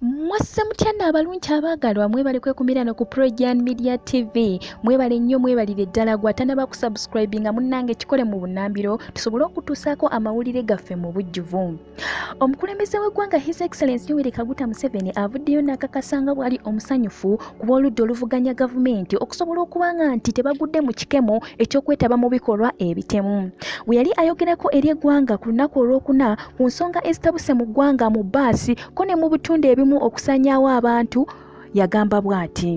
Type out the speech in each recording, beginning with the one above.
mwasse mutya nno abalungi abaagalwa mwebale kwekumira no ku projan media tv mwebale nnyo mwebalire ddala gwatanaba kusubscribinga munnange kikole mu bunambiro tusobole okutuusaako amawulire gaffe mu bujjuvu omukulembeze w'eggwanga his excellence yoweri kaguta museveni avuddeyo n'akakasa nga bwali omusanyufu ku b'oludda oluvuganya gavumenti okusobola okuba nga nti tebagudde mu kikemo eky'okwetaba mu bikolwa ebitemu bwe yali ayogerako eri eggwanga ku lunaku olwokuna ku nsonga ezitabuse mu ggwanga mu baasi ko ne mu bitundu ebimu okusanyaawo abantu yagamba bw'ati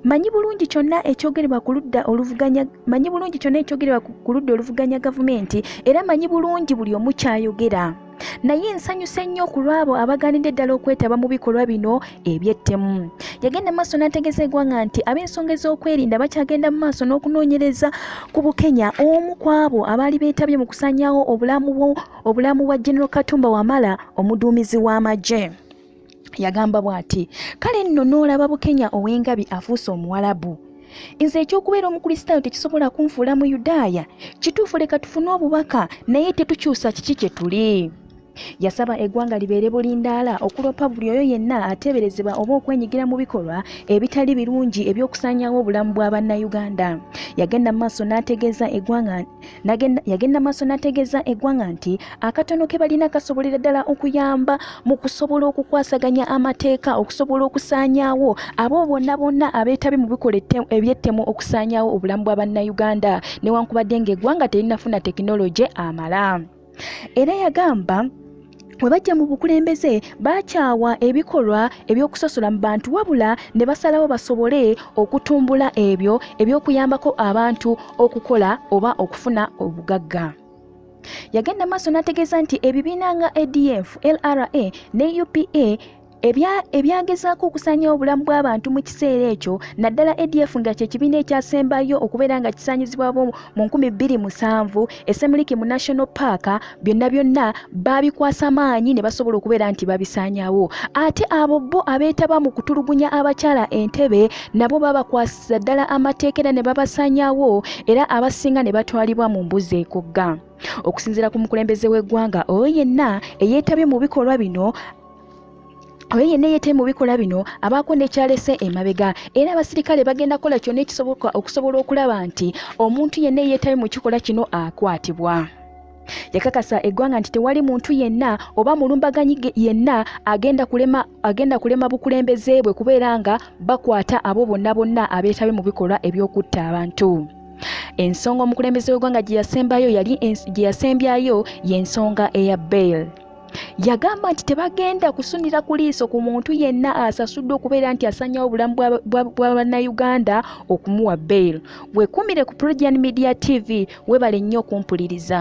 manyi bulungi kyonna ekyogerebwa ku ludda oluvuganya manyi bulungi kyonna ekyogerebwa ku ludda oluvuganya gavumenti era manyi bulungi buli omu kyayogera naye nsanyuse nnyo ku lwabo abaganidde ddala okwetaba mu bikolwa bino ebyettemu yagenda maaso n'ategeza egwanga nti ab'ensonga ez'okwerinda bakyagenda mu maaso n'okunoonyereza ku bukenya omu ku abo abaali beetabye mu kusanyawo obulamu bwa general katumba wamala omuduumizi w'amagye yagamba bw'ati kale nno n'olaba bukenya ow'engabi afuuse omuwalabu nze ekyokubeera omukristaayo tekisobola kunfuula mu yudaaya kituufu leka tufune obubaka naye tetukyusa kiki kye tuli yasaba eggwanga libeere bulindaala okuloopa buli oyo yenna ateeberezebwa oba okwenyigira mu bikolwa ebitali birungi eby'okusaanyawo obulamu bwa bannayuganda yagenda mu maaso n'ategeeza eggwanga yagenda maaso n'ategeeza eggwanga nti akatono ke balina kasobolera ddala okuyamba mu kusobola okukwasaganya amateeka okusobola okusaanyaawo abo bonna bonna abeetabi mu bikola ebyettemu okusaanyaawo obulamu bwa bannayuganda newankubadde ng'eggwanga terinafuna tekinologye amala era yagamba bwe bajja mu bukulembeze bakyawa ebikolwa eby'okusosola mu bantu wabula ne basalawo basobole okutumbula ebyo eby'okuyambako abantu okukola oba okufuna obugagga yagenda maaso n'ategeeza nti ebibiina nga adf lra ne upa ebyagezaako okusaanyawo obulamu bw'abantu mu kiseera ekyo naddala adf nga kye kibiina ekyasembayo okubeera nga kisaanyizibwabo mu 2007 esemuliki mu national park byonna byonna baabikwasa maanyi ne basobola okubeera nti babisaanyawo ate abo bo abeetaba mu kutulugunya abakyala entebe nabo babakwasiza ddala amateeka era ne babasaanyawo era abasinga ne batwalibwa mu mbuzi ekugga okusinziira ku mukulembeze w'eggwanga oyo yenna eyeetabye mu bikolwa bino oyo yenna yeetee mu bikolwa bino abaako nekyalese emabega era abasirikale bagenda kukola kyonna ekisoboka okusobola okulaba nti omuntu yenna eyeetabi mu kikolwa kino akwatibwa yakakasa eggwanga nti tewali muntu yenna oba mulumbaganyi yenna agenda kulema agenda kulema bukulembeze bwe kubeera nga bakwata abo bonna bonna abeetabe mu bikolwa eby'okutta abantu ensonga omukulembeze w'eggwanga gye yasembyayo y'ensonga eya bail yagamba nti tebagenda kusunira ku liiso ku muntu yenna asasuddwa okubeera nti asanyawo obulamu bwa bannayuganda okumuwa bail wekumire ku progian media tv webale nnyo okumpuliriza